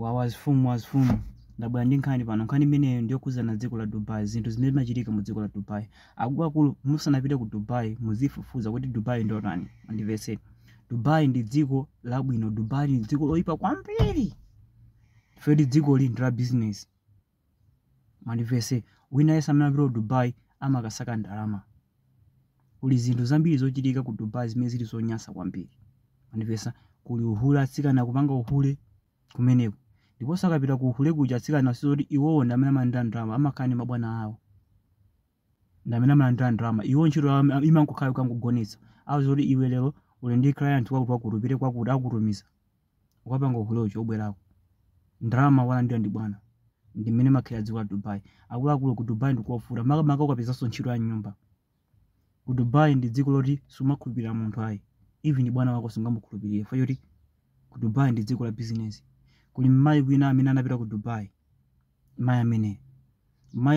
Wawa mfumu wawa mfumu ndabwera ndi nkhani pano nkhani imeneyo ndiyokhudzana dziko la Dubai zinthu zimene zimachitika mu dziko la Dubai akuluakulu musanapite ku Dubai muzifufuza kuti Dubai ndotani mandimvetse Dubai ndi dziko labwino Dubai ndi dziko loyipa kwambiri fedi dzikoli ndi la business Mandimvetse, wina aliyense amene amapita ku Dubai amakasaka ndalama. Kuli zinthu zambiri zochitika ku Dubai zimene zili zonyansa kwambiri. Mandimvetse, kuli uhule, atsikana akupanga uhule kumeneko. Ndiponso akapita ku uhule kuja atsikana sizokuti iwowo ndi amene amalandira ndalama, amakhala ndi mabwana awo. Ndi amene amalandira ndalama. Iwo ntchito yawo ima- imangokhala kukangogonetsedwa. Auzidwa zoti iwe lero uli ndi client wakuti wakuti upite kwakuti akutumiza. ukapanga uhulewo ubwerako ndalama walandira ndi bwana ndi mmene limakhalira dziko la dubai akuluakulu ku dubai ndi kovuta makamaka ukapezanso ntchito ya nyumba ku dubai ndi dziko loti sumakhulupirira munthu ayi even bwana wako sungamukhulupirire chifukwa choti ku dubai ndi dziko la bizinesi kuli mmayi wina amene anapita ku dubai mayi ameneyi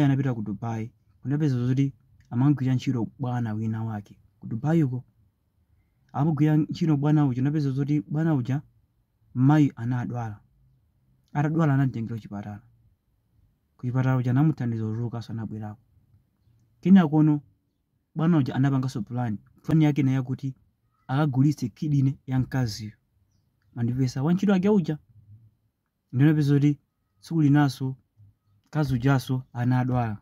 anapita ku dubai kunapeza zoti amamugwirira ntchito bwana wina wake ku dubai uko Amugwirira ntchito bwana uja, napeza zoti bwana uja mayi anadwala. Atadwala anamtengera kuchipatala. Kuchipatala uja anamuthandiza kutulukanso anabwerako. Kenakono bwana uja anapanganso plan. Plan yake ina yakuti akagulitse kidney ya mkaziyo. Mandimvetsa wantchito wake uja. Ndinapeza zoti tsiku linanso mkazi ujanso anadwala.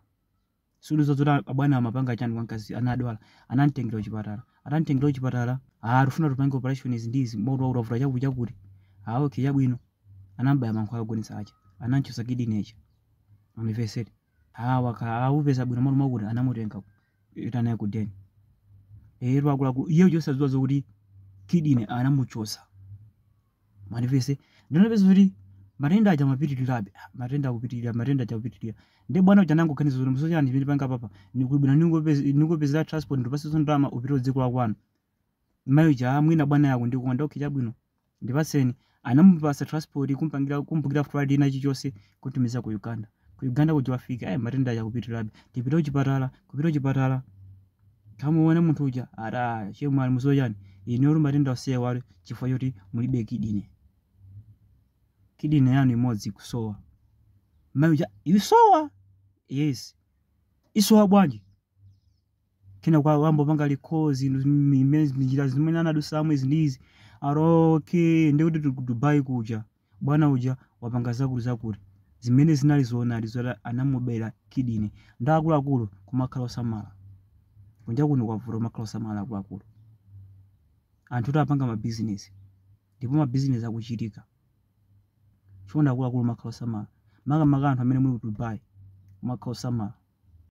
sitidziwa zoti abwana amapanga chani kwa mkazi anadwala anamtengera kuchipatala atamtengera kuchipatala ah tikufuna tupange operation izi ndi izi mwaoti kwavuta chakuti chakuti ah okay chabwino anamubaya mankhwala ogonetsa aja anamchotsa kidney aja mandimvetsetse ah wakhala akupeza bwino malo mwakuti anamutenga kupita naye ku den akuluakulu iye uja osadziwa zokuti kidney anamuchotsa mandimvetse ndiye anapeza kuti matenda aja amapitirirabe Ah, matenda akupitirira matenda aja akupitirira nde bwana uja anangoganiza kuti mukudziwa chinthu chimene ndipange apapa ndi bwino ndikupezere transport ndikupatsenso ndalama upite dziko la kwanu mayi uja mwina bwana akundikonda okay chabwino ndipatseni anamupatsa transport kumpangira kumbukira flight china chilichonse kutumiza ku uganda ku uganda kuja wafika eh matenda aja akupitirirabe tipite kuchipatala kupita kuchipatala kumuona munthu uja ati chemwali mudziwa chani inu muli matenda osowa awa chifukwa choti mulibe kidine kidine yanu imodzi ikusowa mayi uja ikusowa yes ikusowa bwanji kenako wayamba kupanga recall njira zimene anadutsamo izi ndi izi ah okay ndikuti tili ku dubai kuja bwana uja wapanga zakuti zakuti zimene zinali zoonadi zoti anamubera kidney ndi akuluakulu kumakhala osamala kunja kuno kwavuta kumakhala osamala akuluakulu anthu kuti apanga mabizinesi ndipo mabizinesi akuchitika chonde akuluakulu makhala osamala makamaka anthu amene muli ku dubai kumakhala osamala